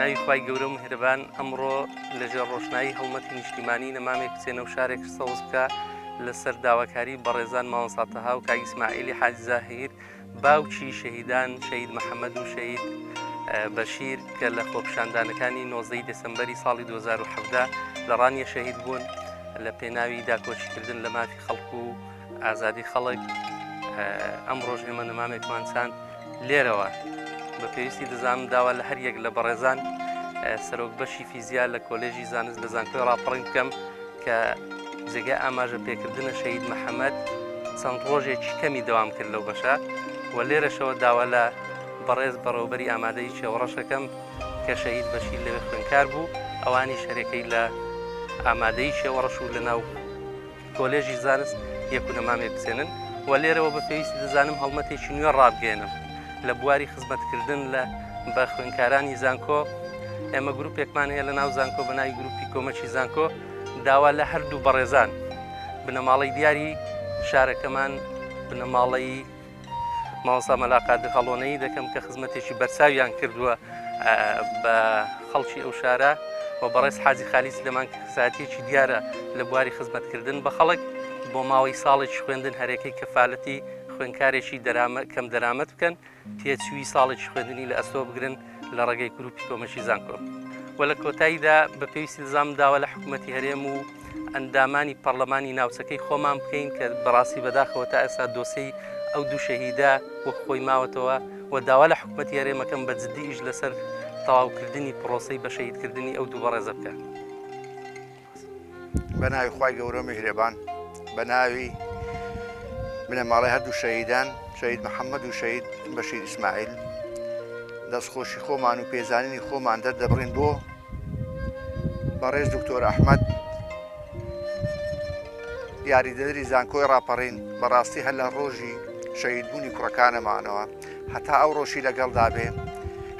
بەناوی خی گەورە مهرەبان ئەمڕۆ لەژێر ڕۆشنایی هەڵمەتی نیشتیمانی نەمامێک بچێنە و شارێک سەوز بکە لەسەر داواکاری بەڕێزان ماوەساتەها و کاگیسماعیلی حاجزاهر بەشیر باوکی شەهیدان شەید محەممەد و شەید بەشیر کە لە خۆپشاندانەکانی نۆزەی دەسمبەری ساڵی 2017 لە ڕانیە شەهید بوون لە پێناوی داکۆچکردن لە مافی خەڵکو و ئازادی خەڵک ئەم ڕۆژ ئێمە نەمامێکمان چاند لێرەوە بە پێویستی دەزانم داوا لە هەر یەک لە بەڕێزان سەرۆک بەشی فیزیا لە کۆلێژی زانست لە زانکۆی ڕاپەڕین بکەم کە جێگای ئاماژە پێکردنە شەهید محەمەد چەند ڕۆژێکی کەمی دەوام کرد لەو بەشە و لێرەشەوە داوا لە بەڕێز بەڕێوبەری ئامادەی چێوەڕەشەکەم کە شەهید بەشیر لەوێ خوێنکار بوو ئەوانی شەرەکەی لە ئامادەی چێوەڕەش و لەناو کۆلێژی زانست یەکونەمامێک بسێنن و لێرەوە بە پێویستی دەزانم هەڵمەتێکی نوێ ڕابگەێنم لە بواری خزمەتکردن لە بە خوێنکارانی زانکۆ ئێمە گروپێکمان هەیە لە ناو زانکۆ بە ناوی گروپی کۆمەکی زانکۆ داوا لە هەردوو بەڕێزان بنەماڵەی دیاری شارەکەمان بنەماڵەی ماوەسا مەلاقادر هەڵۆنەی دەکەم کە خزمەتێکی بەرچاویان کردووە بە خەڵکی ئەو شارە و بەڕێز حازی خالیس لەمان ساتێکی دیارە لە بواری خزمەتکردن بە خەڵک بۆ ماوەی ساڵێکی خوێندن هەرێکەی کەفاالەتی خوێندکارێکی دەرامە کەم دەرامەت بکەن تێچووی ساڵێکی خوێندنی لە ئەستۆ بگرن لە ڕێگەی گروپی کۆمەکی زانکۆ و لە کۆتاییدا بە پێویستی دزام داوا لە حکوومەتتی هەرێم و ئەندامانی پەرلەمانی ناوچەکەی خۆمان بکەین کە بەڕاستی بەداخەوە تا ئێستا دۆسی ئەو دوو شەهیدە وەک خۆی ماوەتەوە و داوا لە حکوومەتتی هەرێمەکەم بە جددی ئیش لەسەر تەواوکردنی پرۆسی بە شەهیدکردنی ئەو دوو بەڕێزە بکە. بە ناوی خی گەورە میهرەبان بە ناوی بنەماڵی هەردوو شەهیدان شەید محەممەد و شەید بەشیر ئیسماعیل دەستخۆشی خۆمان و پێزانینی خۆمان دەردەبڕین بۆ بەڕێز دکتۆر ئەحمد یاریدەدەری زانکۆی ڕاپەڕین بەڕاستی هەر لە ڕۆژی شەیدبوونی کوڕەکانەمانەوە هەتا ئەو ڕۆژی لەگەڵدا بێ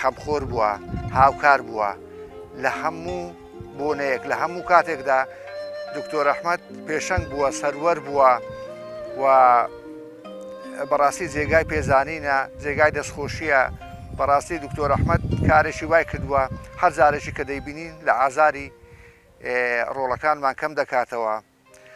خەمخۆر بووە هاوکار بووە لە هەموو بۆنەیەک لە هەموو کاتێکدا دکتۆر ئەحمد پێشەنگ بووە سەروەر بووە و بەڕاستی جێگای پێزانینە جێگای دەستخۆشیە بەڕاستی دکتۆر ئەحمد کارێکی وای کردووە هەر جارێکی کە دەیبینین لە ئازاری ڕۆڵەکانمان کەم دەکاتەوە